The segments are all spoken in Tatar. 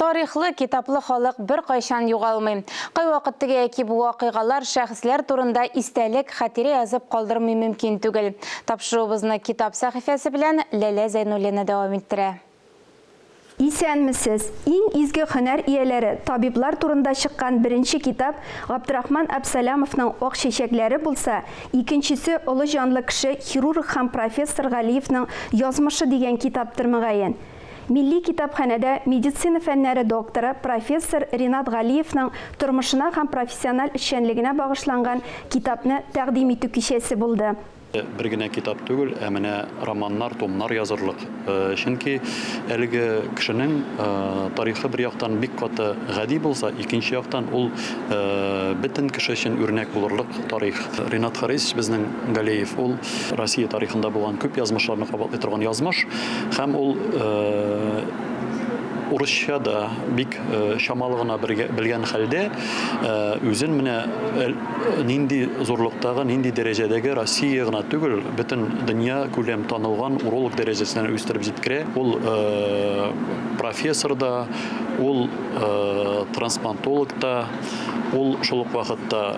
Тарихлы, китаплы халык беркайчан югалмый. Кайвакыт теге яки бу вакыйгалар, шәхесләр турында истәлек, хатирә язып калдырмый мөмкин түгел. Тапшыруыбызны китап сәхифәсе белән Ләлә Зәйнуллина дәвам иттерә. Исәнмесез! Иң изге һөнәр ияләре, табиблар турында чыккан беренче китап Габдрахман Абсалямовның Ак чәчәкләре булса, икенчесе олы җанлы кеше, хирург һәм профессор Галиевның Язмышы дигән китаптыр, мөгаен. Милли китапханәдә медицина фәннәре докторы, профессор Ринат Галиевның тормышына һәм профессиональ эшчәнлегенә багышланган китапны тәкъдим итү кичәсе булды. Бер генә китап түгел, ә менә романнар, томнар язырлык. Чөнки әлеге кешенең тарихы бер яктан бик каты гади булса, икенче яктан ул бөтен кеше өчен үрнәк булырлык тарих. Ринат Харисович безнең Галиев ул Россия тарихында булган күп язмышларны кабатлый торган язмыш һәм ул урысча да бик чамалы гына белгән хәлдә үзен менә нинди зурлыктагы, нинди дәрәҗәдәге Россия гына түгел, бөтен дөнья күләм танылган уролог дәрәҗәсенә үстереп җиткерә. Ул профессор да, ул трансплантолог та. Ул шул ук вакытта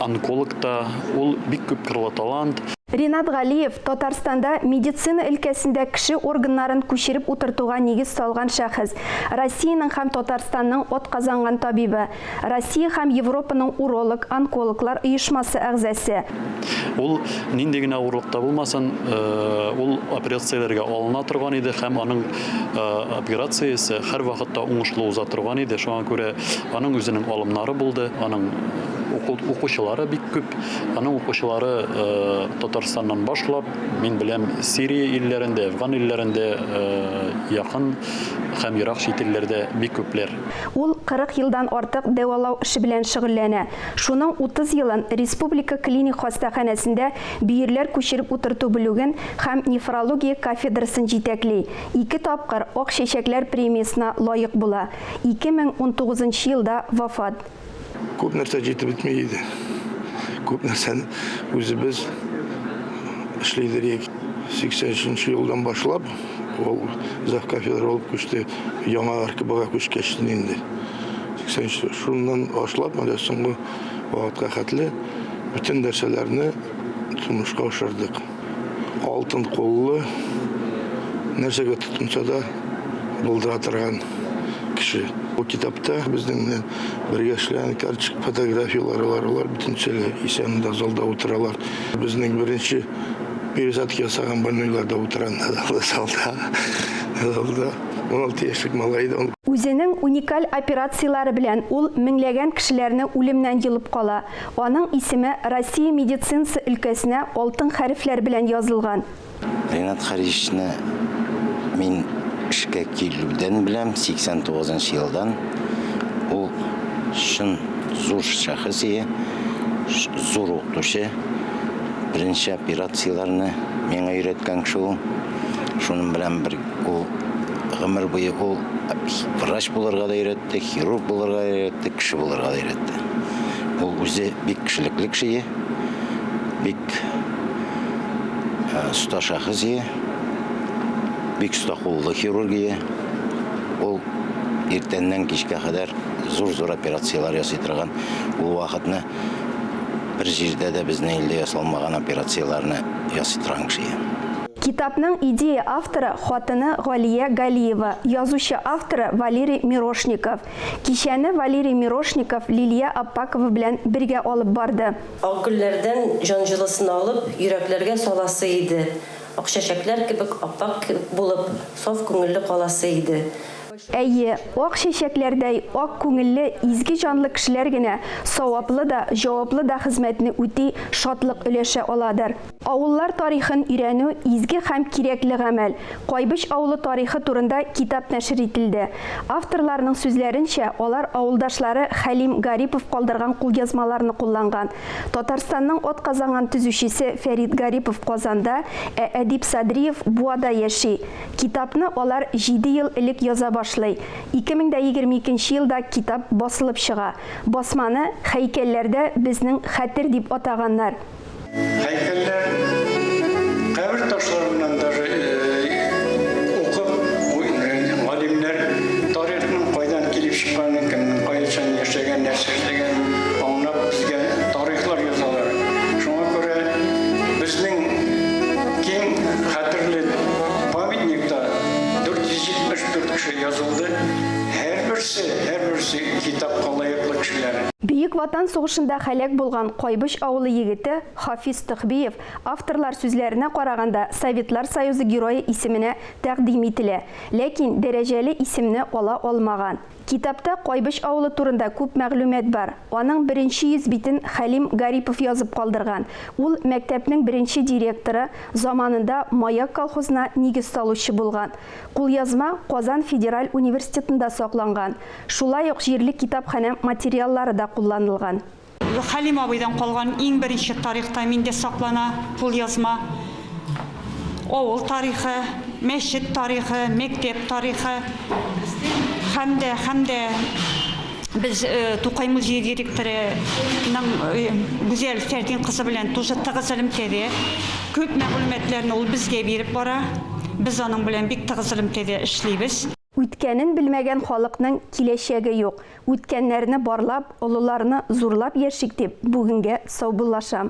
онколог та, ул бик күп кырлы талант. Ринат Галиев, Татарстанда медицина өлкәсендә кеше органнарын күчереп утыртуга нигез салган шәхес, Россиянең һәм Татарстанның атказанган табибы, Россия һәм Европаның уролог, онкологлар оешмасы әгъзасе. Ул нинди генә авырлыкта булмасын, ул операцияләргә алына торган иде һәм аның операция исә һәрвакытта уңышлы уза торган иде. Шуңа күрә аның үзенең алымнары булды, аның укучылары бик күп. Аның укучылары э, Татарстаннан башлап, мин беләм, Сирия илләрендә, Афган илләрендә, э, якын һәм ерак чит илләрдә бик күпләр. Ул 40 елдан артык дәвалау эше белән шөгыльләнә. Шуның 30 елын республика клиник хастаханәсендә бөерләр күчереп утырту бүлеген һәм нефрология кафедрасын җитәкли, ике тапкыр Ак чәчәкләр премиясенә лаек була, 2019 нчы елда вафат. Күп нәрсә җитеп бетми иде. Күп нәрсәне үзебез эшли идек. 80 нче елдан башлап ул зав. Кафедра булып күчте. Яңа РКБга күчкәч инде. 80 нче шуннан башлап әле соңгы Вакытка хәтле бөтен нәрсәләрне тормышка ашырдык. Алтын куллы, нәрсәгә тотынса да булдыра торган кеше. Бу китапта безнең белән бергә эшләгән карточек фотографияләре бар. Алар бөтенчәле исән дә залда утыралар. Безнең беренче пересадка ясаган больнойлар да утыра залда. 16 яшьлек малай иде ул. Үзенең уникаль операцияләре белән ул меңләгән кешеләрне үлемнән йолып кала. Аның исеме Россия медицинасы өлкәсенә алтын хәрефләр белән язылган. Ренат Харисны мин эшкә килүдән беләм, 89 нчы елдан. Ул чын зур шәхес ие, зур укытучы. Беренче операцияләрне миңа өйрәткән кеше ул. Шуның белән бер. Ул гомер буе ул врач булырга да өйрәтте, хирург булырга да өйрәтте, кеше булырга да өйрәтте. Ул үзе бик кешелекле кеше, бик э, оста шәхес, бик оста куллы хирург. Ул иртәннән кичкә кадәр зур-зур операцияләр ясый торган. Ул вакытны бер җирдә дә безнең илдә ясалмаган операцияләрне ясый торган кеше. Китапның идея авторы хатыны Галия Галиева, язучы авторы Валерий Мирошников. Кичәне Валерий Мирошников Лилия Аппакова белән бергә алып барды. Ак гөлләрдән җан җылысын алып, йөрәкләргә саласы иде, акчәчәкләр кебек ап-ак булып, саф күңелле каласы иде. Әйе, ак чәчәкләрдәй ак күңелле, изге җанлы кешеләр генә саваплы да, җаваплы да хезмәтне үти, шатлык өләшә аладыр. Авыллар тарихын өйрәнү, изге һәм кирәкле гамәл. Кайбыч авылы тарихы турында китап нәшер ителде. Авторларның сүзләренчә, алар авылдашлары Хәлим Гарипов калдырган кулъязмаларны кулланган. Татарстанның атказанган төзүчесе Фәрит Гарипов Казанда, ә Әдип Садриев Буада яши. Китапны алар җиде ел элек яза башлый. 2022 елда китап басылып чыга. Басманы Хәйкәлләрдә безнең хәтер дип атаганнар. Һәйкәлләр кабер ташларыннан даже укып, галимнәр тарихның кайдан килеп чыкканын, кемнең кайчан яшәгәнен, нәрсә эшләгәнен аңлап, безгә тарихлар язалар. Шуңа күрә безнең киң хәтерле памятникта 474 кеше язылды. Һәрберсе, һәрберсе китапка лаеклы кешеләр. Бөек Ватан сугышында һәлак булган Кайбыч авылы егете Хафиз Төхбиев авторлар сүзләренә караганда Советлар Союзы Герое исеменә тәкъдим ителә, ләкин дәрәҗәле исемне ала алмаган. Китапта Кайбыч авылы турында күп мәгълүмат бар. Аның беренче йөз битен Хәлим Гарипов язып калдырган. Ул мәктәпнең беренче директоры, заманында Маяк колхозына нигез салучы булган. Кулъязма Казан федераль университетында сакланган. Шулай ук җирле китапханә материаллары да кулланылган. Хәлим абыйдан калган иң беренче тарихта миндә саклана, кулъязма. Авыл тарихы, мәчет тарихы, мәктәп тарихы һәм дә, һәм дә без Тукай музее директорының Гүзәл Фәрдин кызы белән тоже тыгыз элемтәдә. Күп мәгълүматларны ул безгә биреп бара. Без аның белән бик тыгыз элемтәдә эшлибез. Үткәнен белмәгән халыкның киләчәге юк. Үткәннәрне барлап, олыларны зурлап яшик дип, бүгенгә саубуллашам.